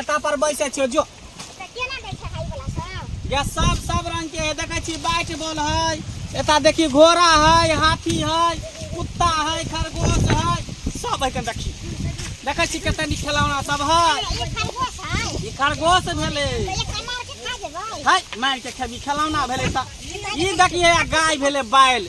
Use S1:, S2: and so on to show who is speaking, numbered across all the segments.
S1: एता पर बैसे छियो जो तऽ केना दै छै हाइ वाला सब या सब सब रंग के है देखे छी बैट बॉल है एता देखी घोड़ा है हाथी है कुत्ता है खरगोश है सब है कन देखी देखे छी कते नीक खेलौना सब है ई खरगोश है ई खरगोश भेले तऽ एक अनार के खा जेबै है मार के खेबी खेलौना भेले त ई देखिए गाय भेले बैल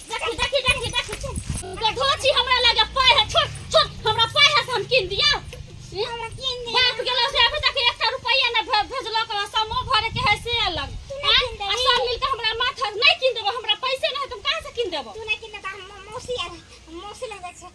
S1: देखी देखी देखी देखी तोरा धोची हमरा लगे पाय है छोड़ छोड़ हमरा पाय है से हम किन दिया हमरा किन दे बाप गेलो से अभी तक एकटा रुपया ने भे- भेजलक हमरा समो भरे के है से अलग तू नहीं आँय? किन आ देबही। सब मिलके हमरा माथा नहीं किन देबो हमरा पैसे नहीं तुम कहाँ से किन देबो तू ना किन दे त हम मौसी आ मौसी लग जाय छै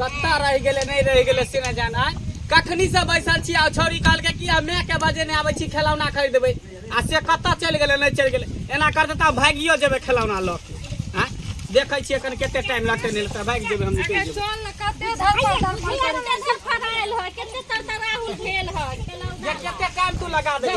S1: कत्ता रह गेले नहीं रह गेले से न जाना कखनी से बैसल छी आ छोरी काल के कि हमे के बजे ने आबै छी खेलौना खरीद देबै आ से कत्ता चल गेले नहीं चल गेले एना कर देता भागियो जेबे खेलौना ल के हां देखै छी एखन कते टाइम लागते ने त भाग जेबे हम निकल जेबे चल ने कते धरपा धरपा कते सफराइल हो कते तरतराहुल भेल हो जे कते टाइम तू लगा दे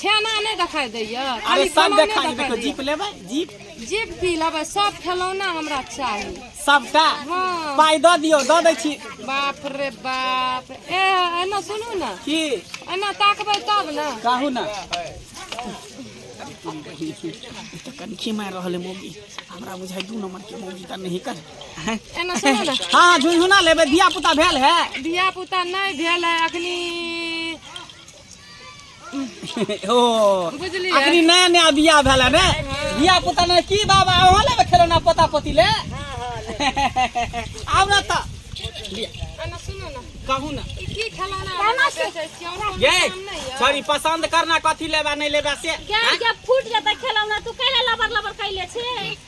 S1: छेना नहि देखाई दैया अरे खाली सब बनौने देखा देखाई देखो दैया। जीप लेबै जीप जीप की लेबै सब खेलौना हमरा चाही सबटा हाँ। पाइ दऽ दियौ दऽ दै छी बाप रे बाप ए एना सुनू ने की एना ताकबै तब ने कहू ने कनखी मारि रहल है मौगी हमरा बुझाइ दू नंबर के मौगी तऽ नहि कर एना सुनू ने हाँ झुनझुना लेबै धिया पुता भेल है धिया पुता नहि भेल है अखनी ओ बुझलियै अखनी नया नया बियाह भेला ने बियाह पुता ने की बाबा अहाँ लेबे खेलौना पोता पोती ले आउ ना त एना सुनू ने कहू ना ई की खेलौना अहाँ बेचै छी हमरा कोनो ये काम नहि यऽ सॉरी पसंद करना कथी लेबा नहीं लेबा से गैस जब फूट जाता खेलौना तू कैले लबर लबर कैले छे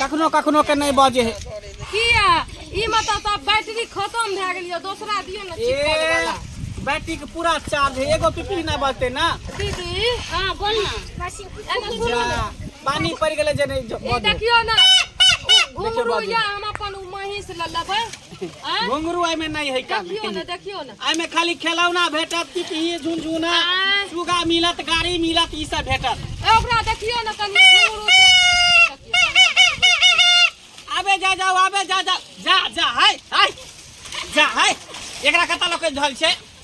S1: कखनो कखनो के नहि बजे है किया ई मतलब तऽ बैटरी खत्म भए गेल यऽ दोसरा दियौ ने ठीक कऽ देबै ला। बैटरी के पूरा चार्ज है एगो पिपी नहि बजते ना दीदी हाँ बोल ना एना सुनू जा, ना। पानी पड़ गेलै जे नहि ज- ए बजे देखियो ना उ घुंगरू देखियौ, या हम अपन उ महींस ल लेबै आँय? घुंगरू एहिमे नहि है का देखियो ने देखियो ने एहिमे खाली खेलौना भेटत पिपही झुनझुना आँय। सुगा मिलत गाड़ी मिलत ई सब भेटत ए, ओकरा देखियो ने कनि घुंघरू से। आबे जा जाओ आबे जा जा जा जा हाय हाय जा हाय एकरा कता लोग के झल छै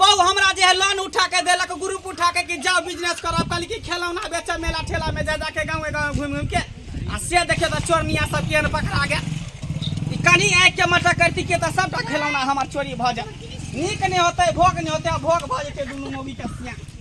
S1: बहू हमरा जे है लोन उठा के देलक ग्रुप उठा के कि जाओ बिजनेस करब कहली कि खेलौना बेचब मेला ठेला में जा जाके गाँव गाँव घूम घूम के आ से देखियो तो चोरनिया सब केहन पकड़ा गया ई कनी आँख के मटर करती के तो सबटा खेलौना हमार चोरी भऽ जाए नीक नहि होतै भोग नहि होतै आ भोग भऽ जेतै दुनू मोगी के सियाँ